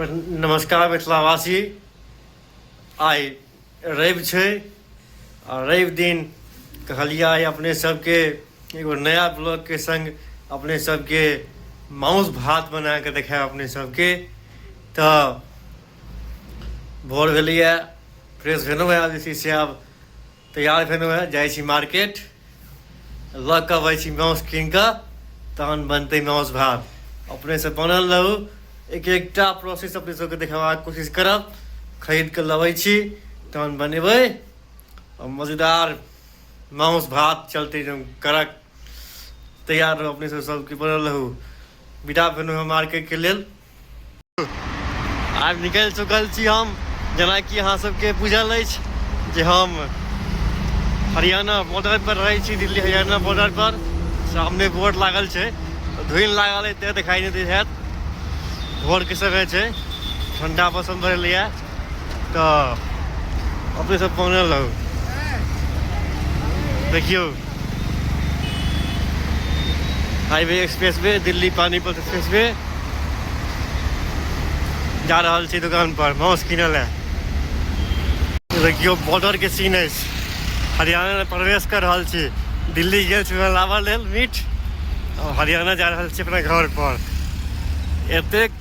नमस्कार मिथिलावासी आइ रवि छै आ रवि दिन कहलिए आइ अपने सबके एगो नया ब्लॉगके सङ्ग अपने सबके माउस भात बना कऽ देखायब अपने सबके तऽ भोर भेलैए फ्रेश भेलहुँ आब जे छै से आब तैयार भेलहुँ हँ जाइ छी मार्केट लऽ कऽ अबै छी माउस कीन कऽ तहन बनतै माउस भात अपनेसँ बनल रहू एक एकटा प्रोसेस अपने सबके देखेबाक कोशिश करब खरीद कऽ लबै छी तहन बनेबै आओर मजेदार माउस भात चलतै एकदम कड़क तैयार रहू अपने सब सबके बनल रहू विदा भेलहुँ हँ मार्केटके लेल आब निकलि चुकल छी हम जेनाकि अहाँ सबके बुझल अछि जे हम हरियाणा बॉर्डर पर रहै छी दिल्ली हरियाणा बॉर्डर पर सामने बोर्ड लागल छै धुनि लागल है ते देखाई नहि दैत हैत भोरके समय छै ठंडा मौसम रहलैए तऽ अपने सब पहुँचल रहू देखियौ highway express way Delhi Panipat express way जा रहल छी दुकान पर माउस किनऽ लए देखियौ बॉर्डर के सीन अछि हरियाणा में प्रवेश कर रहल छी दिल्ली गेल छी लाबऽ लेल मीट हरियाणा जा रहल छी अपना घर पर एतेक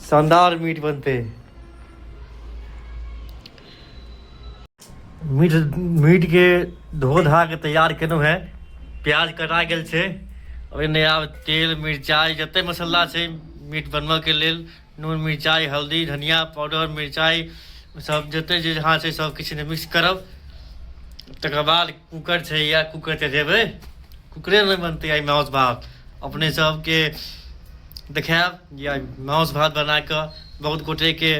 शानदार मीट बनते मीट मीट के धो धा के तैयार केनौ है प्याज कटा गेल छै ओहिने आब तेल मिरचाइ जते मसाला छै मीट बनबऽ के लेल नून मिरचाइ हल्दी धनिया पाउडर मिरचाइ सब जते जे जहाँ छै सब किछु मिक्स करब तकर बाद कुकर छै या कुकर चढ़ेबै कुकरे नहि बनतै आइ माउस भात अपने सबके देखायब जे आइ माउस भात बना कऽ बहुत गोटेके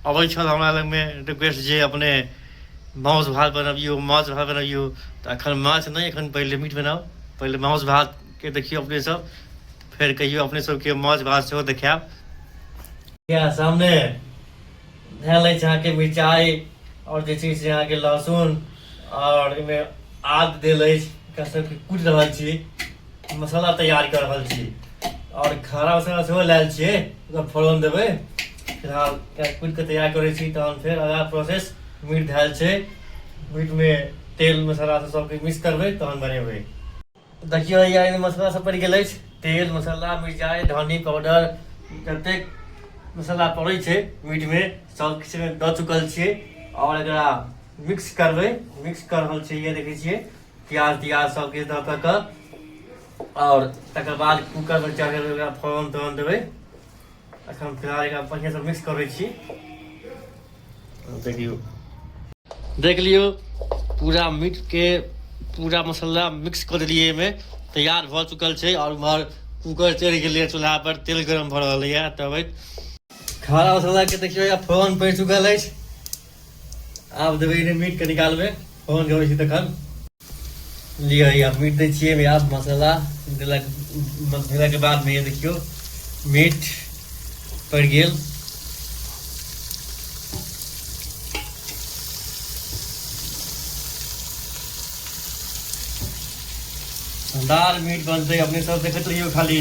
अबै छल हमरा लगमे रिक्वेस्ट जे अपने माउस भात बनबियौ माछ भात बनबियौ तऽ एखन माछ नहि एखन पहिले मीट बनाउ पहिले माउस भातके देखियौ अपने सब फेर कहियौ अपने सबके माछ भात सेहो देखायब या सामने धए लै छै अहाँके मिरचाइ आओर जे छै से अहाँके लहसुन आओर एहिमे आद देल अछि एकरा सबके कुटि रहल छी मसाला तैयार कर रहल छी आओर खाना मसाला सेहो लायल छियै ओकरा फोरन देबै फिलहाल कुटि कऽ तैयार करै छी तहन फेर अगला प्रोसेस मीट धएल छै मीटमे तेल मसाला सब सबके मिक्स करबै तहन बनेबै देखियौ हैया एहिमे मसाला सब पड़ि गेल अछि तेल मसाला मिरचाइ धनी पाउडर जतेक मसाला पड़ै छै मीटमे सब किछु एहिमे दऽ चुकल छियै आओर एकरा मिक्स करबै मिक्स कर रहल छियै ये देखै छियै प्याज तियाज सब किछु दऽ कऽ कऽ आओर तकर बाद कूकरमे चढ़ेबै ओकरा फोरन तोरन देबै अखन फिलहाल एकरा बढ़िया से मिक्स करै छी देखियो देख लियो पूरा मीट के पूरा मसाला मिक्स कर दिलिए में तैयार भ चुकल छै और उमहर कुकर चढ़ गए चूल्हा पर तेल गरम भ रहा है तब खाना मसाला के देखियो या फोरन पड़ चुकल है आब देबै एहिमे मीटके निकालबै फोन गबै छी तखन लिअ या मीट दै छियै एहिमे आब मसाला देलक देलाके बादमे देखियौ मीट पड़ि गेल दाल मीट बनतै अपने सब देखैत रहियौ खाली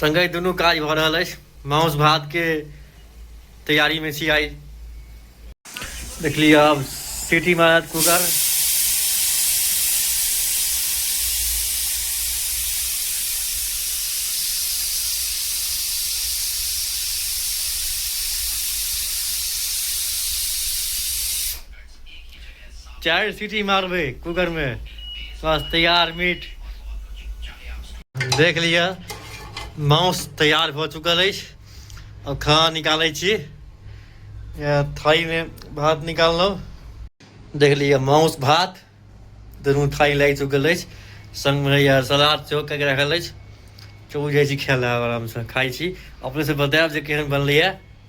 संगे दुनू काज भऽ रहल अछि माउस भात के तैयारी में छी आई देख लिया अब सीटी मारत कुकर चारि सीटी मारबै कुकरमे बस तैयार मीट देख लिअ माउस तैयार भऽ चुकल अछि अब खाना निकालै छी थारीमे भात निकाललहुँ देख लिअ माउस भात दुनू थारी लागि चुकल अछि सङ्गमे रहैए सलाद सेहो कऽ राखल अछि चौक जाइ छी खाय लए आरामसँ खाइ छी अपनेसँ बतायब जे केहन बनलैए